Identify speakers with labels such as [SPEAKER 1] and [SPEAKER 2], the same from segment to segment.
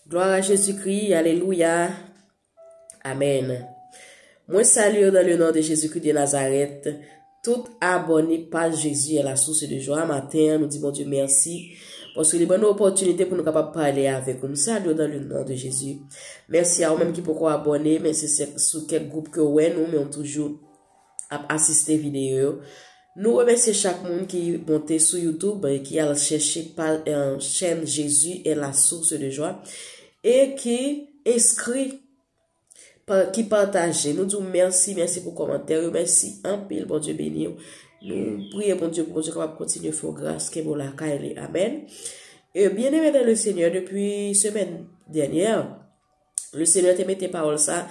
[SPEAKER 1] Gloire à Jésus-Christ, Alléluia. Amen. Mwen salye nan le non de Jésus-Christ de Nazareth, tout abone pa Jésus la source de joie matin, nou di bon Dieu merci, paske li ban nou opportunité pou nou kapab pale avek ou. Mwen salye nan le non de Jésus. Merci a ou menm ki poko abone, men se sou kek group ke ou wè nou, men ou toujou ap asiste videyo yo. Nou remèsye chak moun ki monte sou YouTube e ki al chèche chèn Jesus est la source de joie e ki enskri, ki pataje. Nou di w mèsi, mèsi pou kòmantè yo, mèsi anpil, Bondye beni w. Nou priye Bondye pou Bondye kapab kontinye fè w gras, kenbe w lakay li. Amen. E byeneme nan le Senyè, depi semèn dènyè, Le Seyè te mete pawòl sa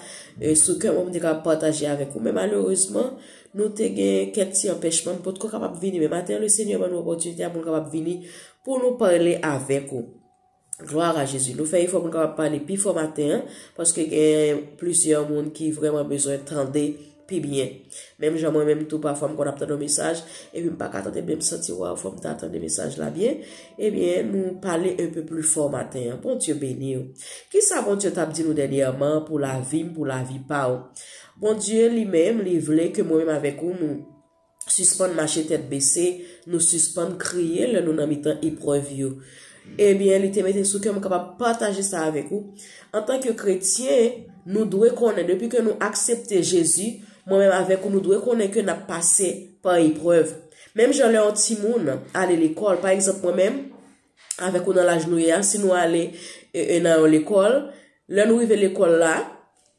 [SPEAKER 1] sou kè mwen pou m te kapab pataje avèk ou men malerezman nou te gen kèk ti anpèchman m potko kapab vini men maten Le Seyè ban nou opòtinite a pou nou kapab vini pou nou pale avèk ou. Glwa a Jezi. Nou fè efò pou nou kapab pale pi fò maten an paske gen plizyè moun ki vrèman bezwen tande pi byen. Menm jan mwen menm tou pafwa m konn ap tande yon mesaj, epi m pa ka tande byen m santi waw fòm ta tande mesaj la byen, ebyen nou pale un peu plus fort maten an. Bondye beni w. Kisa Bondye t ap di nou dènyèman pou lavi m, pou lavi pa w? Bondye li menm li vle ke mwen menm avèk ou nou. sispann mache tèt bese, nou sispann kriye lè nou nan mitan eprèv yo. Ebyen, li te mete sou kè m kapab pataje sa avèk ou, antanke kretyen, nou dwe konnen, depi ke nou aksepte Jezi, mwen menm avèk ou nou dwe konnen ke n ap pase pa eprèv. Menm jan lè yon timoun ale lekòl, pa egzanp mwen menm, avèk ou nan laj nou ye a, si nou ale nan yon lekòl, lè nou rive lekòl la,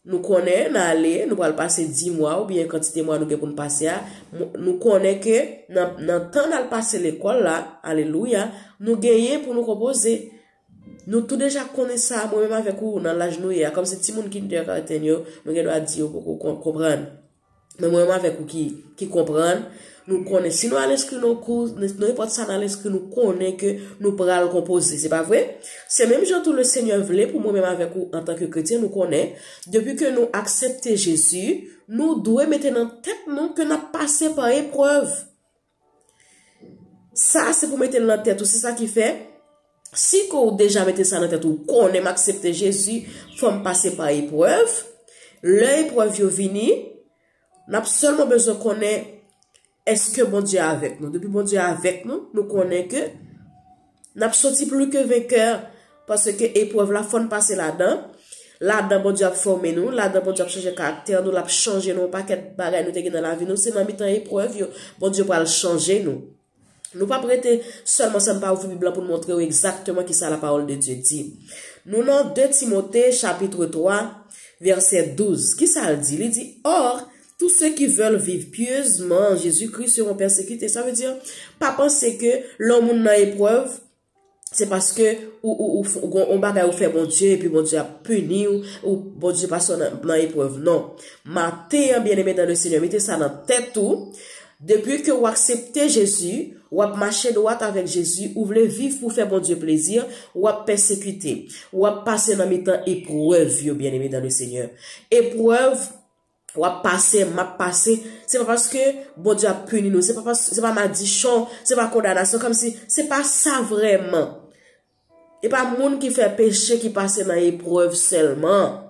[SPEAKER 1] nou konnen nan ale, nou pral pase 10 mwa ou byen kantite mwa nou gen pou n pase a, nou konnen ke nan tan nan al pase lekòl la, alelouya, nou genyen pou nou konpoze. Nou tou deja konnen sa, mwen menm avèk ou nan laj nou ye a, kòm se ti moun kinder-garten yo, nou gen dwa di yo poko konprann. Men mwen menm avèk ou ki konprann, nou konnen si nou al enskri nou kou, nou enpòt sa nan al enskri nou konnen ke nou pral konpoze, se pa vre? Se menm jan tou le Senyè vle pou mwen menm avèk ou antan ke kretyen nou konnen, depi ke nou aksepte Jezi, nou dwe mete nan tèt nou ke n ap pase pa eprèv. Sa se pou mete l nan tèt ou se sa ki fè si ke ou deja mete sa nan tèt ou konnen m aksepte Jezi fò m pase pa eprèv lè eprèv yo vini n ap sèlman bezwen konnen eske Bondye avèk nou depi Bondye avèk nou nou konnen ke Nap soti plu ke venkè, paske eprèv la fòn pase ladan, ladan Bondye ap fòme nou, ladan Bondye ap chanje karaktè nou, lap chanje nou yon pakèt bagay nou te gen nan lavi nou, se nan mitan eprèv yo Bondye pral chanje nou. Nou pap rete sèlman san nou pa ouvri bib la poun montre ou egzakteman kisa la pawòl de Dye di. Nou nan 2 Timote chapitre 3 vèsè 12, kisal di? Li di, Or, Tous ceux qui veulent vivre pieusement en Jésus Christ seront persécutés. Sa vle di, pa panse ke lè yon moun nan eprèv, se paske ou gen yon bagay ou fè Bondye, epi Bondye ap pini ou, ou Bondye pase w nan eprèv. Non. Maten an, byeneme dan le Senyè, mete sa nan tèt ou, depi ke ou aksepte Jezi, ou ap mache dwat avèk Jezi, ou vle viv pou fè Bondye plezi, ou ap pèsekite. Ou ap pase nan mitan eprèv yo, byeneme dan le Senyè. Eprèv. Wap pase, map pase, se pa paske Bondye ap pini nou, se pa madichon, se pa kondanasyon, kòm si se pa sa vrèman. E pa moun ki fè peche ki pase nan eprèv sèlman.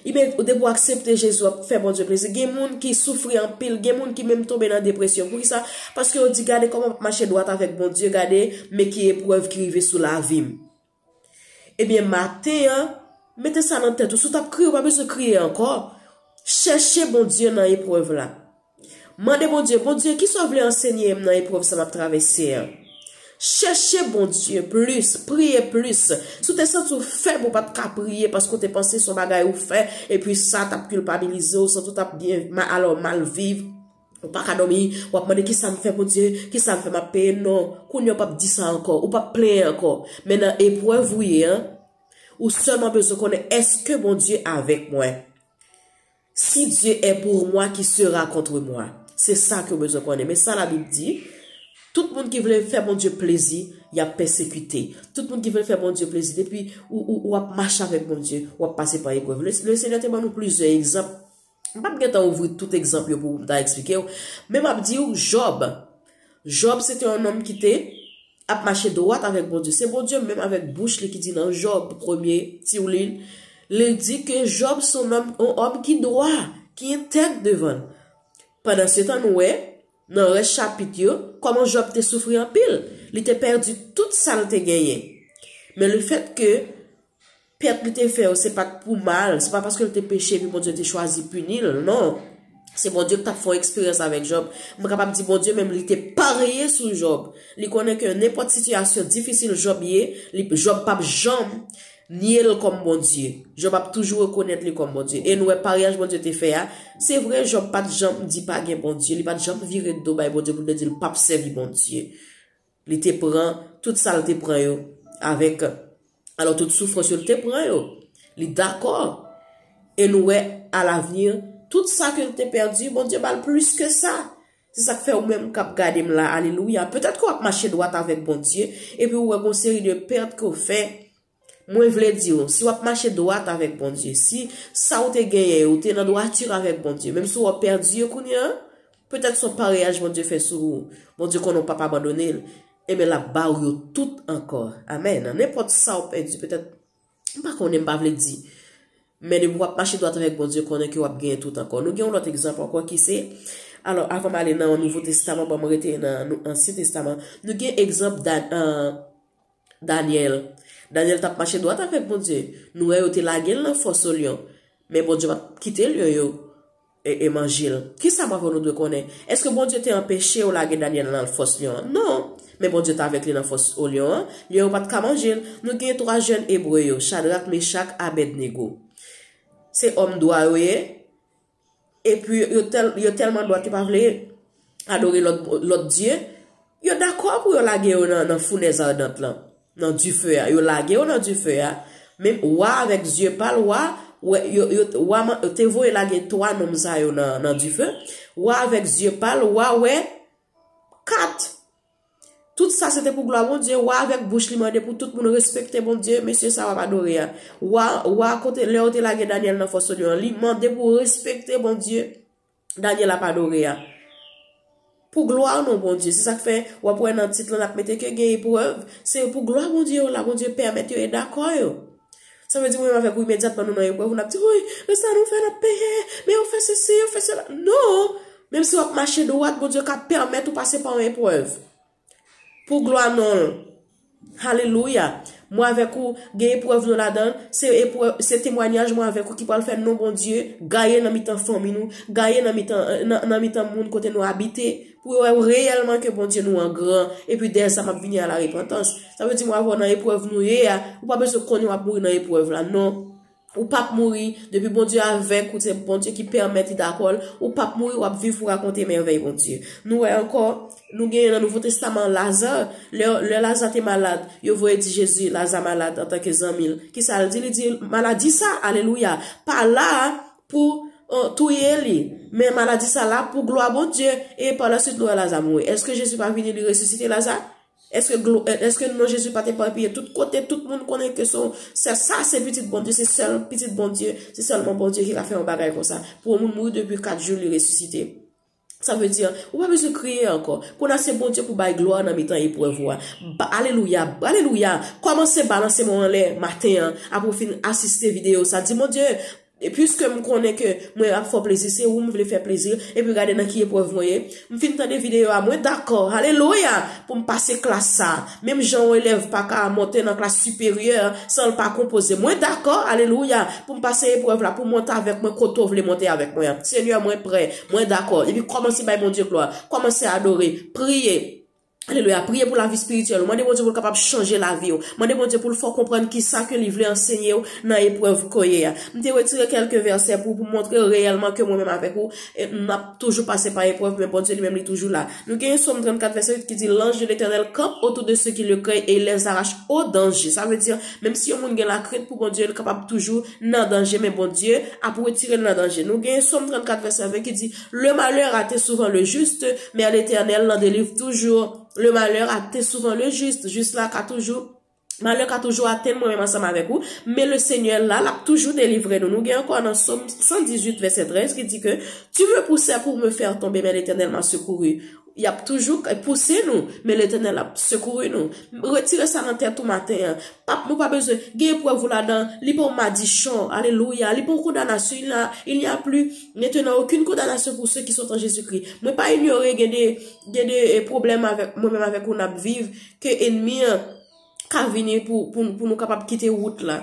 [SPEAKER 1] E ben, ou depo aksepte Jezi wap fè Bondye plezi. Gen moun ki soufri anpil, gen moun ki menm tonbe nan depresyon. Pou ki sa? Paske yo di gade kòman map mache dwat avèk Bondye, gade men ki eprèv ki rive sou lavim. Ebyen maten an, mete sa nan tèt ou, si w t ap kriye ou pa bezwen kriye ankò, chèche Bondye nan eprèv la. Mande Bondye, Bondye kisa w vle ansenye m nan eprèv sa m ap travèse an? Chèche Bondye plis, priye plis. Si w te santi w fèb ou pa t ka priye paske w te panse son bagay ou fè epi sa t ap kilpabilize w, santi w t ap mal viv. Ou paka dòmi, wap mande kisam fè Bondye, kisam fè map peye non, kounya ou pap di sa ankò, ou pap plenyen ankò, men nan eprèv ou ye an, ou sèlman bezwen konnen èske Bondye avèk mwen? Si Dye è pour mwa ki sera kontre mwa? Se sa ke ou bezwen konnen, men sa labib di, tout moun ki vle fè Bondye plezi, yap pèsekite, tout moun ki vle fè Bondye plezi, depi ou ap mache avèk Bondye, wap pase pa eprèv, le Senyè te ban nou plizyè egzanp, M pap gentan ouvri tout egzanp yo pou ou m ta eksplike ou, men m ap di ou Jòb, Jòb se te yon nonm ki te ap mache dwat avèk Bondye. Se Bondye menm avèk bouch li ki di nan Jòb, premye ti li, li di ke Jòb se yon òm ki dwa, ki entèg devan l. Pandansetan nou wè nan rès chapit yo kòman Jòb te soufri anpil, li te pèdi tout sa l te genyen. Men lefètke Pèt li te fè yo se pa t pou mal, se pa paske l te peche epi Bondye te chwazi pini l, non. Se Bondye ki t ap fè yon eksperyans avèk Jòb. Mwen kapab di Bondye menm li te parye sou Jòb. Li konnen ke nenpòt sitiyasyon difisil Jòb ye, Jòb pap janm nye l kòm Bondye. Jòb ap toujou rekonèt li kòm Bondye. E nou wè paryaj Bondye te fè a, se vre Jòb pa t janm di pa gen Bondye, li pa t janm vire do bay Bondye pou l te di l pap sèvi Bondye. Li te pran tout sa l te pran yo avèk, alò tout soufrans yo l te pran yo, li dakò e nou wè alavni tout sa ke l te pèdi Bondye ba l plis ke sa. Se sa k fè ou menm k ap gade m la, alelouya, petèt ke w ap mache dwat avèk Bondye epi ou wè gon seri de pèt ke w fè, Mwen vle di w, si w ap mache dwat avèk Bondye, si sa w te genyen yo te nan dwatir avèk Bondye, menm si w ap pèdi yo kounye an, petèt s on pareyaj Bondye fè sou ou, Bondye konnen w p ap abandone l, enben l ap ba w yo tout ankò. Amèn. Nan nenpòt sa w pèdi, petèt, m pa konnen, m pa vle di. Men depi w ap mache dwat avèk Bondye, konnen ke w ap genyen tout ankò. Nou gen yon lòt egzanp ankò ki se, alò, avan m ale nan Nouvo Testaman, ban m rete nan Ansyen Testaman, nou gen egzanp Dan. Danyèl. Danyèl t ap mache dwat avèk Bondye. Nou wè yo te lage l nan fòs lyon. Men Bondye pa t kite lyon yo manje l. Ki sa m avè w nou dwe konnen? Èske Bondye te anpeche yo lage Danyèl nan fòs lyon an? Non! Men Bondye t avèk li nan fòs lyon an. Lyon yo pa t ka manje l. Nou gen twa jèn Ebre yo, Chadrak, Mechak, Abèdnego. Se òm dwa yo ye. e pi yo tèlman dwat yo pa vle adore lòt dye, yo dakò pou yo lage yo nan founèz ardant lan, nan dife a, yo lage yo nan dife a, men wa avèk zye pal, wa, wa te voye lage 3 nonm sa yo nan dife, wa avèk zye pal, wa wè 4. Tout sa se te pou glwa Bondye, wa avèk bouch li mande pou tout moun respekte Bondye, mesye sa w ap adore a. Wa, wa a kote, lè yo te lage Danyèl nan fòs lyon an, li mande pou respekte Bondye Danyèl ap adore a. Pou glwa non Bondye, se sa k fè w ap wè nan tit lan l ap mete ke gen eprèv, se pou glwa Bondye yo la, Bondye pèmèt yo e dakò yo. Sa vle di mwen menm avèk ou imedyatman nou nan eprèv, n ap di, Woy, men sa nou fè, n ap peye, men yo fè sesi, yo fè sela. Non! Menm si w ap mache dwat, Bondye ka pèmèt ou pase pa yon eprèv. Pou glwa non l. Alelouya! Mwen avèk ou gen eprèv nou ladan l, se temwanyaj mwen avèk ou ki pral fè non Bondye gaye nan mitan fanmi nou, gaye nan mitan moun kote nou abite. Pou yo wè reyèlman ke Bondye nou an gran, epi dèyè sa map vini a la repantans. Sa vle di mwen avè w nan eprèv nou ye a, ou pa bezwen konnen wap mouri nan eprèv la non. Ou pap mouri, depi Bondye avèk ou, se Bondye ki pèmèt li dakò l, ou pap mouri wap viv pou rakonte mèvèy Bondye. Nou wè ankò, nou genyen nan Nouvo Testaman Laza, lè lè Laza te malad, yo voye di Jezi Laza malad antanke zanmi l, kisa l di, li di maladi sa, alelouya, pa la a, Pou touye li. Men maladi sa la pou glwa Bondye. E pa la suite nou wè Laza mouri. Eske Jezi pa vini li resisite Laza? Eske non Jezi pat eparpiye tout kote, tout moun konnen ke son sa sa se pitit Bondye, se sèl pitit Bondye, se sèlman Bondye ki ka fè yon bagay konsa. Pou yon moun mouri depi 4 jou li resisite. Sa vle di, ou pa bezwen kriye ankò. Kounye-a se Bondye pou bay glwa nan mitan eprèv ou a. Alelouya! Alelouya! Kòmanse balanse men w anlè maten an, apre ou fin asiste videyo sa. Di, Bondye, piske m konnen ke mwen ap fè w plezi, se ou m vle fè plezi, epi gade nan ki eprèv mwen ye. M fin tande videyo a, mwen dakò, alelouya! pou m pase klas sa a. Menm jan yon elèv pa ka monte nan klas siperyè san l pa konpoze. Mwen dakò, alelouya! pou m pase eprèv la, pou w monte avèk mwen kote w vle monte avèk mwen an. Senyè, mwen prè. Mwen dakò. Epi kòmanse bay Bondye glwa. Kòmanse adore. Priye. Alelouya. Priye pou lavi spirityèl ou. Mande Bondye pou l kapab chanje lavi ou. Mande Bondye pou l fè w konprann kisa ke li vle ansenye ou nan eprèv ke w ye a. M te retire kèlke vèsè pou pou montre reyèlman ke mwen menm avèk ou n ap toujou pase pa eprèv men Bondye li menm li toujou la. Nou gen yon Sòm 34 vèsè 8 ki di L'ange de l'Etènèl campe autour de ceux qui le craignent et il les arrache au danger. Sa vle di menm si yon moun gen lakrent pou Bondye li kapab toujou nan danje men Bondye ap retire l nan danje nou gen som 34 vèsè 20 ki di le malheur a te souvent le juste men Letènèl nan delivre toujours le malheur a te souvent le juste jis la ka toujou malè ka toujou atenn mwen menm ansanm avèk ou men le senyè la lap toujou delivre nou nou gen ankò nan som 118 vèsè 13 ki di ke tu me poussè pour me faire tomber men Letènèl m'a secouru Y ap toujou pouse nou, men Letènèl ap sekouri nou. Retire sa nan tèt ou maten an. Pap nou pa bezwen, gen eprèv ou ladan, li pa yon madichon. Alelouya! Li pa yon kondanasyon. Il n'a, il n'y a plus maintenant aucune condamnation pour ceux qui sont en Jésus-Christ. Mwen pa inyore gen de, gen de pwoblèm avèk, mwen menm avèk ou n ap viv, ke enmi an ka vini pou, pou nou kapab kite wout la.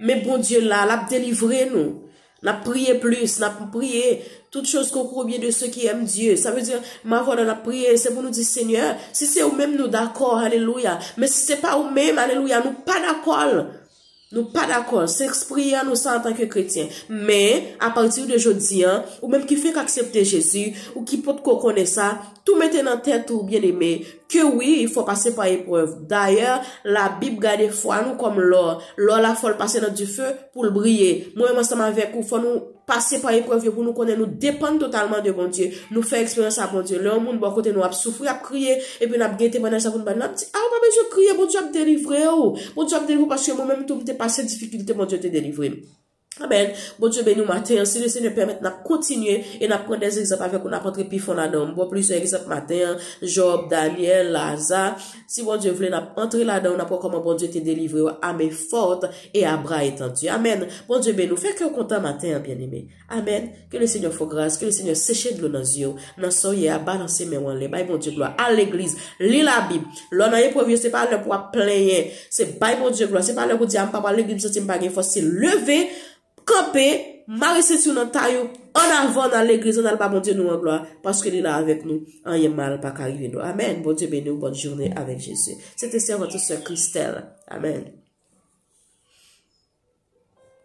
[SPEAKER 1] Men Bondye la, l ap delivre nou. Nap priye plis, nap priye, tout choz konkou byen de se ki èm Dye. Sa vle di, ma vwa nan ap priye, se pou nou di Senyè, si se ou menm nou dakò, alelouya. Men si se pa ou menm, alelouya, nou pa dakò l. Nou pa dakò l. Se ekspriye an nou sa antan ke kretyen. Men, apati de jodi an, ou menm ki fèk aksepte Jezi, ou ki pot ko konnen sa, Tou mete nan tèt ou byeneme ke wi fò w pase pa eprèv. Dayè, Labib gade fwa nou kòm lò. Lò la fò l pase nan dife pou l briye. Mwen menm ansanm avèk ou fò nou pase pa eprèv yo pou nou konnen nou depann totalman de Bondye. Nou fè eksperyans a Bondye. Lè yon moun bò kote nou ap soufri, ap kriye, epi n ap gen temwanyaj sa pou n ba l, n ap di, a ou pa bezwen kriye, Bondye ap delivre ou. Bondye ap delivre ou paske mwen menm tou m te pase difikilte Bondye te delivre m. Amen Bondye beni w maten an si le Senyè pèmèt nap kontinye e nap pran des egzanp avèk ou nap antre pi fon ladan m bò plizyè egzanp maten an Job, Daniel, Laza si Bondye vle nap antre ladan nap wè kòman Bondye te delivre yo a men fort e a bra etendu amen Bondye beni w fè kè w kontan maten an byeneme amen. Ke le Senyè fè w gras, ke le Senyè seche dlo nan zye w, nan sa w ye a, balanse men w anlè, bay Bondye glwa, al legliz, li labib. Lè w nan eprèv yo se pa lè pou w ap plenyen, se bay Bondye glwa, se pa lè pou w di a m pa pral legliz m santi m pa gen fòs, se leve, kanpe, mare senti w nan tay ou, an avan nan legliz an al ba Bondye nou an glwa, paske li la avèk nou, anyen mal pa ka rive nou. Amen! Bondye beni w, bòn joune avèk Jezi. Se te sèvant ou sè Christelle. Amen.